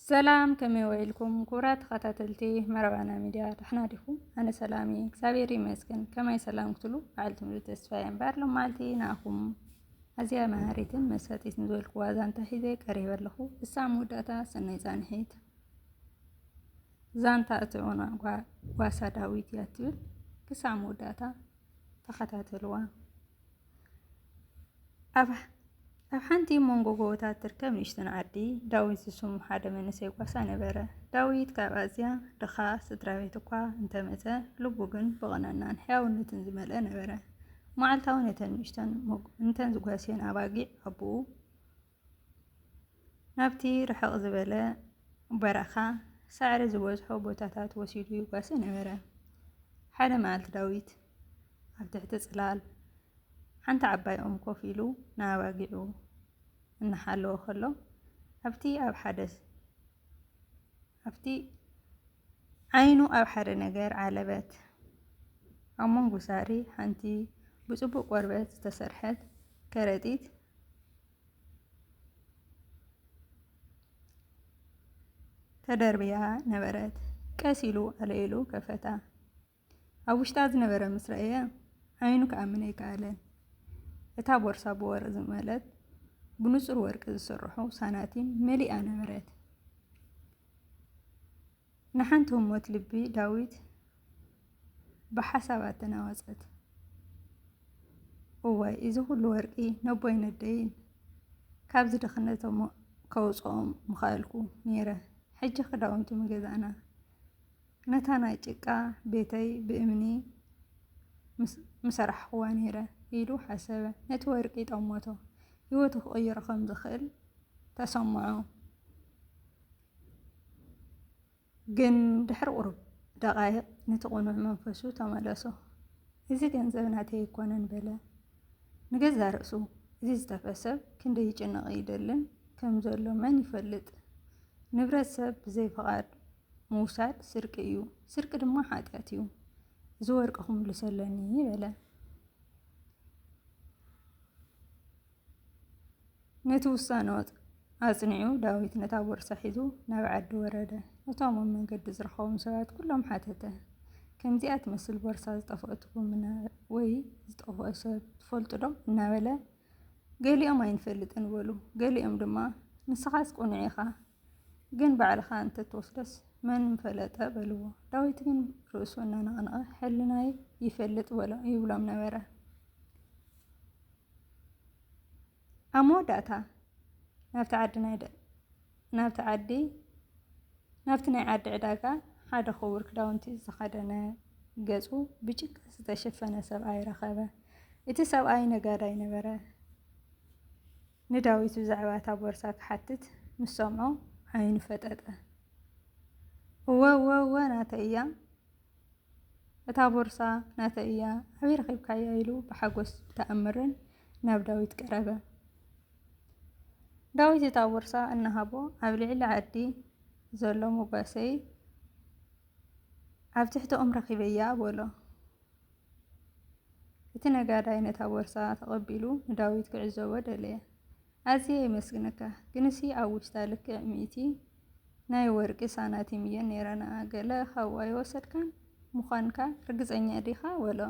ሰላም ከመይ ወይልኩም ኩብራ ተኸታተልቲ መረባና ሚድያ ድሕና ዲኹም? ኣነ ሰላም እየ እግዚኣብሔር ይመስገን። ከማይ ሰላም ክትሉ በዓል ትምህርቲ ተስፋ እየ እምበር ሎማዓልቲ ንኣኹም ኣዝያ መሃሪትን መሳጢት ዝበልኩ ዋዛ እንታይ ሒዘ ቀሪበ ኣለኹ። እሳ መወዳእታ ሰናይ ፃንሒት ዛንታ እትዑና ጓሳ ዳዊት እያ ትብል። ክሳብ መወዳእታ ተኸታተልዋ። ኣብ ሓንቲ መንጎ ጎቦታት እትርከብ ንእሽተን ዓዲ፣ ዳዊት ዝስሙ ሓደ መንእሰይ ጓሳ ነበረ። ዳዊት ካብ ኣዝያ ድኻ ስድራቤት እኳ እንተ መጸ፣ ልቡ ግን ብቕንዕናን ሕያውነትን ዝመልኣ ነበረ። መዓልታዊ ነተን ንእሽተን እተን ዝጓስየን ኣባጊዕ ኣቦኡ ናብቲ ርሕቕ ዝበለ በረኻ ሳዕሪ ዝበዝሖ ቦታታት ወሲዱ ይጓሰ ነበረ። ሓደ መዓልቲ ዳዊት ኣብ ትሕቲ ጽላል ሓንቲ ዓባይ ኦም ኮፍ ኢሉ ንኣባጊዑ እናሓለወ ከሎ ኣብቲ ኣብ ሓደ ኣብቲ ዓይኑ ኣብ ሓደ ነገር ዓለበት። ኣብ መንጎ ሳዕሪ ሓንቲ ብጽቡቕ ቆርበት ዝተሰርሐት ከረጢት ተደርብያ ነበረት። ቀስ ኢሉ ኣለኢሉ ከፈታ። ኣብ ውሽጣ ዝነበረ ምስ ረኣየ ዓይኑ ክኣምን ኣይከኣለን። እታ ቦርሳ ብወርቂ ዝመለት ብንጹር ወርቂ ዝስርሑ ሳናቲም መሊኣ ነበረት። ንሓንቲ ህሞት ልቢ ዳዊት ብሓሳባት ተናወጸት። እዋይ እዚ ኩሉ ወርቂ ነቦይ ነደይን ካብዚ ድኽነቶም ከውጽኦም ምኸኣልኩ ነይረ። ሕጂ ክዳውንቲ ምገዛእና ነታ ናይ ጭቃ ቤተይ ብእምኒ ምሰራሕኽዋ ነይረ ኢሉ ሓሰበ። ነቲ ወርቂ ጠመቶ። ህይወቱ ክቕይሮ ከም ዝኽእል ተሰምዖ። ግን ድሕሪ ቁሩብ ደቓይቕ ነቲ ቅኑዕ መንፈሱ ተመለሶ። እዚ ገንዘብ ናተይ ኣይኮነን በለ ንገዛእ ርእሱ። እዚ ዝጠፍአ ሰብ ክንደይ ይጭነቕን ይደልን ከም ዘሎ መን ይፈልጥ? ንብረት ሰብ ብዘይ ፍቓድ ምውሳድ ስርቂ እዩ፣ ስርቂ ድማ ሓጢኣት እዩ። እዚ ወርቂ ክምልሶ ኣለኒ በለ። ነቲ ውሳነ ኣጽኒዑ ዳዊት ነታ ቦርሳ ሒዙ ናብ ዓዲ ወረደ። እቶም ኣብ መንገዲ ዝረኸቦም ሰባት ኩሎም ሓተተ። ከምዚኣ ትመስል ቦርሳ ዝጠፍኦትኩም ወይ ዝጠፍኦ ሰብ ትፈልጡ ዶ? እናበለ ገሊኦም ኣይንፈልጥን በሉ። ገሊኦም ድማ ንስኻስ ቅኑዕ ኢኻ፣ ግን ባዕልኻ እንተትወስዶስ መን ምፈለጠ በልዎ። ዳዊት ግን ርእሱ እናነቕነቐ ሕልናይ ይፈልጥ ይብሎም ነበረ። ኣብ መወዳእታ ናብቲ ዓዲ ናይ ደ- ናብቲ ዓዲ ናብቲ ናይ ዓዲ ዕዳጋ ሓደ ክቡር ክዳውንቲ ዝተኸደነ ገጹ ብጭቃ ዝተሸፈነ ሰብኣይ ረኸበ። እቲ ሰብኣይ ነጋዳይ ነበረ። ንዳዊት ብዛዕባ እታ ቦርሳ ክሓትት ምስ ሰምዖ ዓይኑ ፈጠጠ። እወ እወ እወ ናተይ እያ እታ ቦርሳ ናተይ እያ፣ ኣበይ ረኺብካያ? ኢሉ ብሓጎስ ብተኣምርን ናብ ዳዊት ቀረበ። ዳዊት እታ ቦርሳ እናሃቦ ኣብ ልዕሊ ዓዲ ዘሎ ሞጓሰይ ኣብ ትሕቲ ኦም ረኺበያ በሎ። እቲ ነጋዳይ ነታ ቦርሳ ተቐቢሉ ንዳዊት ክዕዘቦ ደለየ። ኣዝየ የመስግነካ ግንሲ ኣብ ውሽጣ ልክዕ ሚእቲ ናይ ወርቂ ሳናቲም እየን ነይረናኣ ገለ ካብኡ ኣይወሰድካን ምዃንካ ርግጸኛ ዲኻ በሎ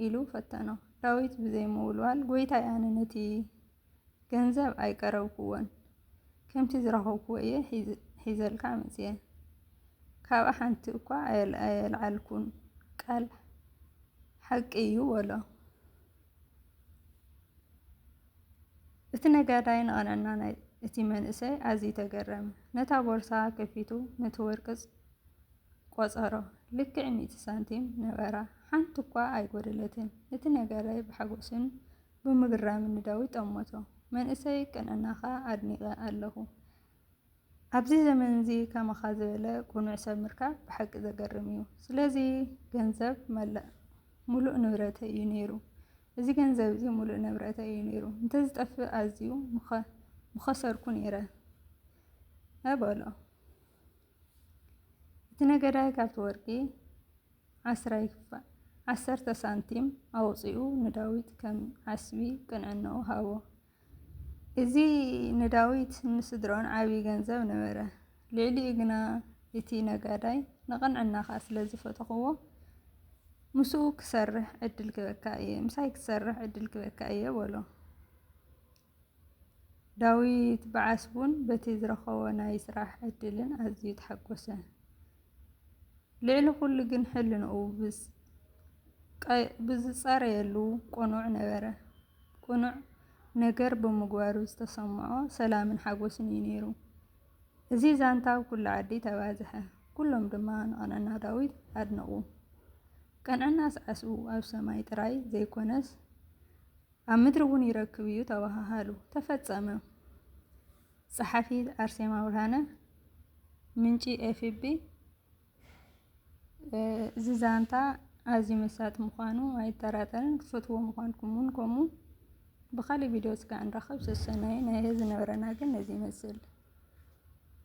ኢሉ ፈተኖ ዳዊት ብዘይ ምውልዋል ጎይታይ ኣነ ነቲ ገንዘብ ኣይቀረብኩዎን ከምቲ ዝረኸብኩዎ እየ ሒዘልካ መጽየ ካብኣ ሓንቲ እኳ ኣየልዓልኩን ቃል ሓቂ እዩ በሎ እቲ ነጋዳይ ንቐነና ናይ እቲ መንእሰይ ኣዝዩ ተገረመ። ነታ ቦርሳ ከፊቱ ነቲ ወርቂ ቈጸሮ። ልክዕ ሚእቲ ሳንቲም ነበራ፣ ሓንቲ እኳ ኣይጐደለትን። እቲ ነጋዳይ ብሓጐስን ብምግራምን ንዳዊት ጠመቶ። መንእሰይ ቀነናኻ ኣድኒቐ ኣለኹ። ኣብዚ ዘመንዚ ከማኻ ዝበለ ቁኑዕ ሰብ ምርካብ ብሓቂ ዘገርም እዩ ስለዚ ገንዘብ መላእ ሙሉእ ንብረተይ እዩ ነይሩ እዚ ገንዘብ እዚ ሙሉእ ንብረተይ እዩ ነይሩ እንተዝጠፍእ ኣዝዩ ምኸሰርኩ ነይረ በሎ እቲ ነገዳይ ካብቲ ወርቂ ዓስራይ ክፋል ዓሰርተ ሳንቲም ኣውፂኡ ንዳዊት ከም ዓስቢ ቅንዕናኡ ሃቦ እዚ ንዳዊትን ንስድራኡን ዓብዪ ገንዘብ ነበረ። ልዕሊኡ ግና እቲ ነጋዳይ ንቕንዕናኻ ስለ ዝፈተኽዎ፣ ምስኡ ክሰርሕ ዕድል ክህበካ እየ፣ ምሳይ ክሰርሕ ዕድል ክህበካ እየ በሎ። ዳዊት ብዓስቡን በቲ ዝረኸቦ ናይ ስራሕ ዕድልን ኣዝዩ ተሓጎሰ። ልዕሊ ኩሉ ግን ሕልንኡ ብዝጸረየሉ ቅኑዕ ነበረ። ቅኑዕ ነገር ብምግባሩ ዝተሰምዖ ሰላምን ሓጎስን እዩ ነይሩ። እዚ ዛንታ ኣብ ኩሉ ዓዲ ተባዝሐ፣ ኩሎም ድማ ንቕንዕና ዳዊት ኣድነቑ። ቅንዕናስ ዓስቡ ኣብ ሰማይ ጥራይ ዘይኰነስ ኣብ ምድሪ እውን ይረክብ እዩ ተበሃሃሉ። ተፈጸመ። ጸሓፊት ኣርሴማ ብርሃነ ምንጪ ኤፍቢ እዚ ዛንታ ኣዝዩ መሳጢ ምዃኑ ኣይጠራጠርን፣ ክትፈትዉዎ ምዃንኩም ውን ከምኡ። ብኻልእ ቪድዮ እስከ ንራኸብ ሰሰናዩ ናይ ሀዚ ነበረና ግን ነዚ ይመስል።